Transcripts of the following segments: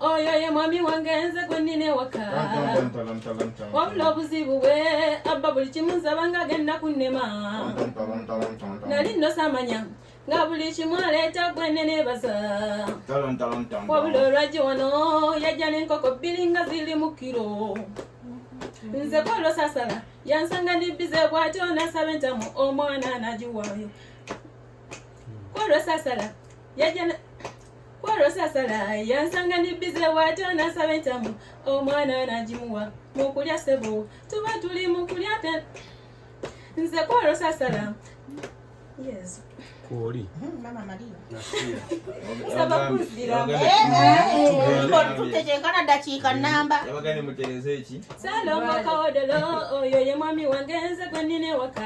oyo ye mwami wange nze gwe nnina ewaka wabula obuzibu bwe abba buli kimu nsaba nga agenda kunnema nali nnosamanya nga buli kimu aleeta gwe neneebaza wabula olwagi wano yajja n'enkoko bbiri nga ziri mu kiro nze kwolwo sasala yansanga ndibbize bwatyo nasaba entamu omwana nagiwaayo kwolwo sasala yajja kwolosasala yansanga nibbize bwatyo nasaba entamu omwana nagimuwa mukulya sebo tuba tuli mukulya te nze kwolosasala yes kwoli tutetenkana dakiika namba salomakaodolo oyo ye mwami wange nze gwenina ewaka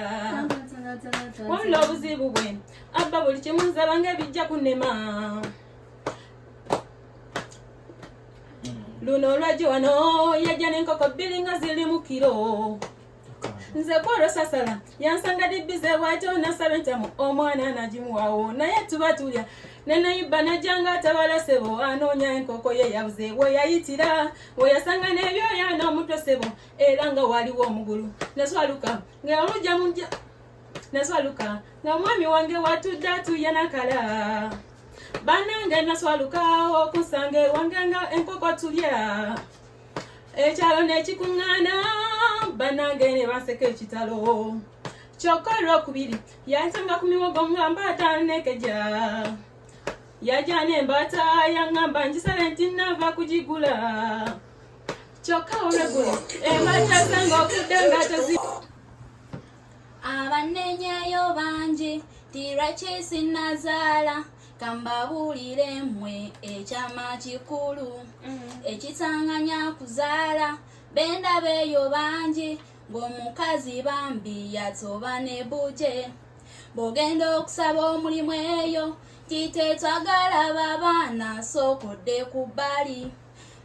wabula obuzibu bwe abba buli kimu nzaba ng'ebijja kunema luno olwajja wano yajja n'enkoko bbiri nga ziri mu kiro nze kwolwo sasala yansanga dibbize bwatyo nasaba entamu omwana nagimuwawo naye tuba tulya nenayibba najjanga atabala sebo anoonya enkoko ye yabuze weyayitira weyasanga n'ebyoya n'omutwe sebo era nga waliwo omugulu naswaluka nga olujja mujja naswaluka nga omwami wange watudde atuye nakala banange naswaluka okusanga ewange nga enkoko tulya ekyalo nekikuŋŋaana banange ne baseka ekitalo kyokka olwokubiri yantanga ku miwogo nga mbaata nekeja yajana embaata yaŋŋamba ngisale nti nava kugigula kyokka olwegulo embaata sanga okudde nga tezi abanenyayo bangi tiraki sinazaala kambabuulire mmwe ekyama kikulu mm. ekisanganya kuzaala bendabeeyo bangi ng'omukazi bambi yatoba ne buje bw'ogenda okusaba omulimu eyo titetwagala babaana sookodde ku bbali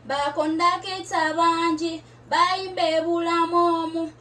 bakondakita bangi bayimba ebulamu omu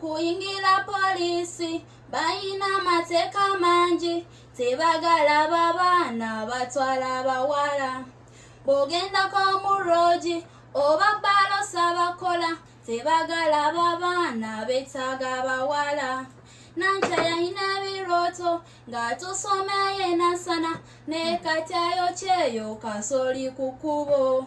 kuyingira poliisi balina amateeka mangi tebagala babaana batwala abawala bw'ogendako mu roogi oba balosa bakola tebagala babaana betaaga abawala nantya yalina ebirooto ng'atusomeyo enasana naye kati ayokyeyo kasooli ku kkubo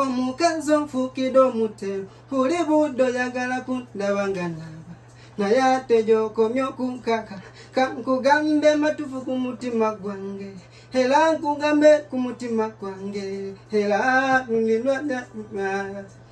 omukazi onfukide omutemu oli budde oyagala kundaba nga naaba naye ate gyokomye okunkaka kankugambe matufu ku mutima gwange era nkugambe ku mutima gwange era nulilwa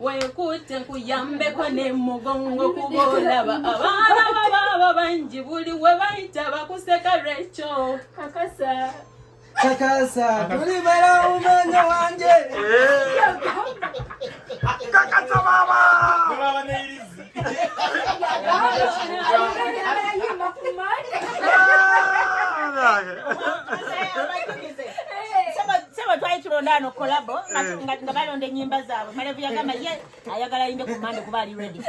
wenkutte nkuyambeko ne mugongo kuba olaba abaana babaaba bangi buli we bayita bakuseka lwekyo kakasa kakasa tuli bala umanya wange kakasa baba tulondaano kolabo eh. nga balonda enyimba zaabwe malevu yagamba ye ayagala yimbe ku mande kuba ali redi eh.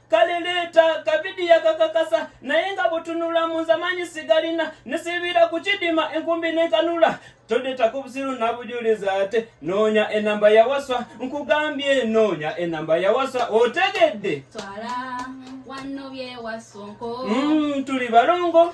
kale leeta kavidiyo akakakasa naye nga butunula mu nze amaanyi sigalina nesibiira ku kidima enkumbi nenkanula tondetako obusiru nabujuliza ate noonya enamba yawaswa nkugambye noonya enamba yawaswa otegedde mm, tuli balongo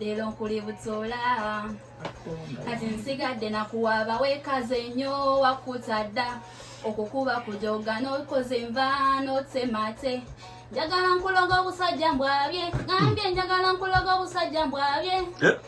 leero nkuli butoola kati nsigadde nakuwaaba weekaze nnyo wakkuta dda okukuba kujoga n'okoze enva n'otemate njagala nkuloga obusajja mbwabye ngambye njagala nkuloga obusajja mbwabye eh?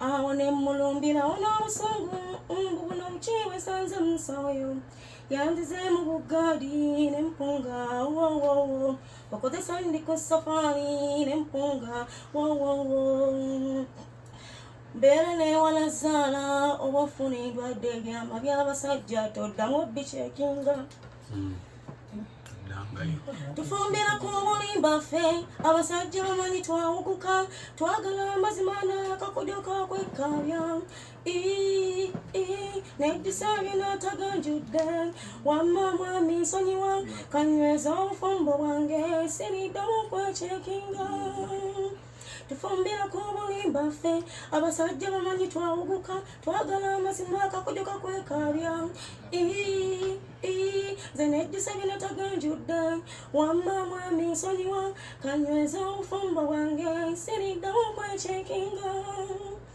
awo ne mmulumbirawo n'obusungu mbu buno bukyewe sanze musawoyo yanzize mu buggaadi ne mpunga wowowo okozesa ndi ku safaali ne mpunga wowowo mbeera newala zaala oba ofuna endwadde ebyama by'abasajja toddamu bikyekinga mm. tufumbira ku bulimba ffe abasajja bamanyi twawuguka twagala amazima nakakujoka kwekkalya nejjusa byona taganjudde wamma mwami nsonyiwa kanyweza obufumbo bwange siriddamu kwechekinga tufumbira ku bulimba ffe abasajja bamanyi twawuguka twagala amazima akakujo kakwekaabya nze nejjusa bino taganjudde wamma mwami nsonyiwa kanyweza obufumbo bwange siriddawo okwekinga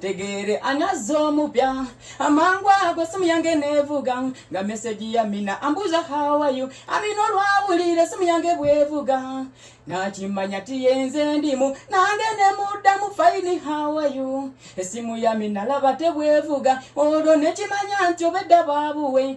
tegere anazza omupya amangu ago simu yange nevuga nga meseji ya mina ambuuza hawayo amina olwawulira simu yange bwevuga nakimanya tiyenze ndimu nange nemuddamu faini hawayo esimu ya mina laba tebwevuga olwo nekimanya nti obedda babuwe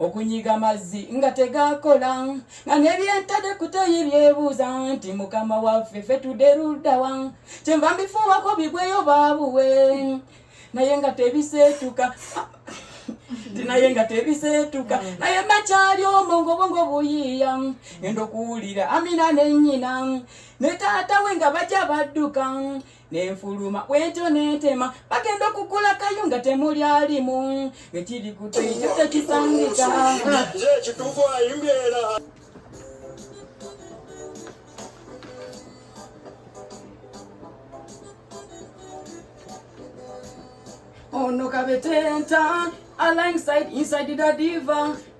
okunyiga amazzi nga tegakola nga nebyentade kutoyi byebuuza nti mukama waffe fe tudde luddawa kyenva mbifuuwako bigweyo baabuwe naye nga tebiseetuka nti naye nga tebiseetuka mm. naye makyali omo ngobongo buyiiya ngenda okuwulira amina nenyina ne taata we nga bajja badduka nenfuluma wetyo nentema bagenda okukula kayunga temuli alimu ekiri kutekyo tekisangika ono kabetenta alongside inside the diva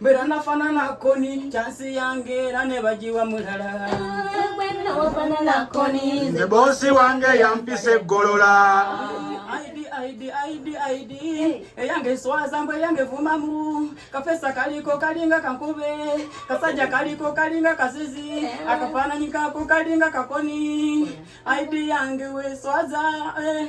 Mbera nafanana koni chansi yange era ne bagiwa mulala nze bosi wange yampisa eggolola eyange swaza mbu eyange vumamu kafesa kaliko kalinga kankube kasajja kaliko kalinga kazizi akafaananyi kako kalinga kakoni aidi yange weswaza eh.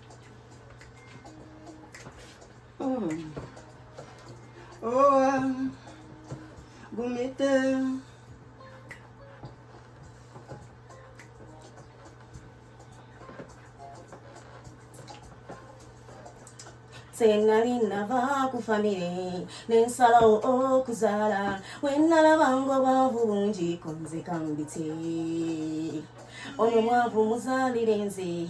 Oh, oh, um, gumite. senali nava ku famire nensalawo okuzaala wenalabanga obwavu bungi konzekambitse ono mwavu muzaalire nze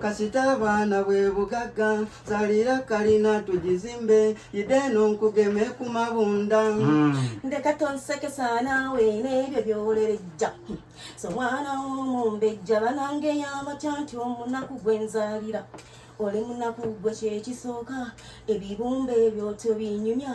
kasita abaana bwe bugagga zalira kalina tugizimbe yideeno nkugeme ku mabunda hmm. ndeka tonsekesa naawe n'ebyo byolerejja so mwana w'omumbejja banange yamatya nti omunaku gwe nzalira oli munaku gwe kyekisooka ebibumba ebyo tobinyumya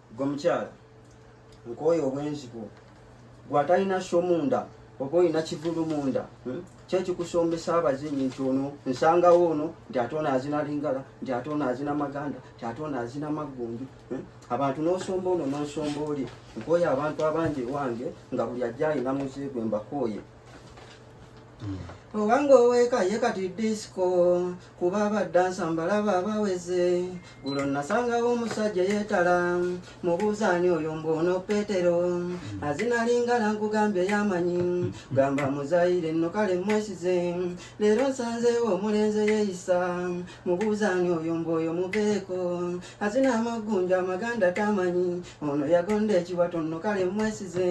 gwe mukyala nkooye obwenzi bwo gwe atalina sho munda oba olina kivulu munda hmm? kyekikusombesa abazinyi nti ono nsangawo ono nti ate ono azina lingala nti ate ono azina maganda nti ate ono azina maggunju hmm? abantu nosomba ono nosomba oli nkooye abantu abangi ewange nga buli ajja alina muze gwe mbakooye hmm. obanga oweeka ye kati disco kuba abadde ansamba laba abaweze gulo nasangawo omusajja yeetala mubuuzaani oyo mbuono petero azinalingala nkugambye yamanyi gamba muzayire nno kale mwesize leero nsanzeewo omulenze yeeyisa mubuuzaani oyo mbu oyo muveeko azina amaggunja amaganda tamanyi ono yagonda ekiwato nno kale mwesize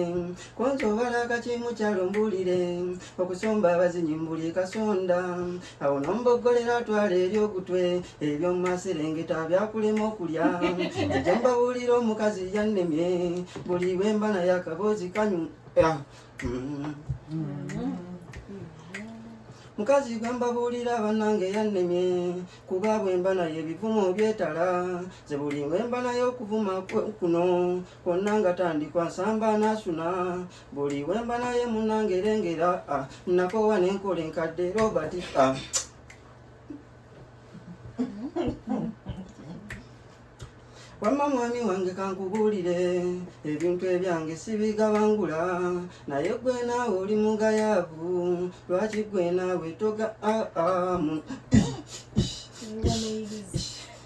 konza obala akakimukyalo mbuulire okusomba abazinyi mbuli kasonda awo nomboggolera atwala eri ogutwe ebyomumaserengeta byakulema okulya ejo mbabuulira omukazi yannemye buli bwemba naye akaboozi kanyu ah, mm. mukazi gwe mbabuulira bannange yannemye kuba bwemba naye ebivumo byetala ze buli bwemba naye okuvuma kuno konna nga tandikwa nsamba nasuna buli wemba naye munangerengera ah, nakowa nenkola enkadde robert ah. wamma mwami wange kankubuulire ebintu ebyange sibigabangula naye gwe naawe oli mugayaavu lwaki gwe naawe toga ah,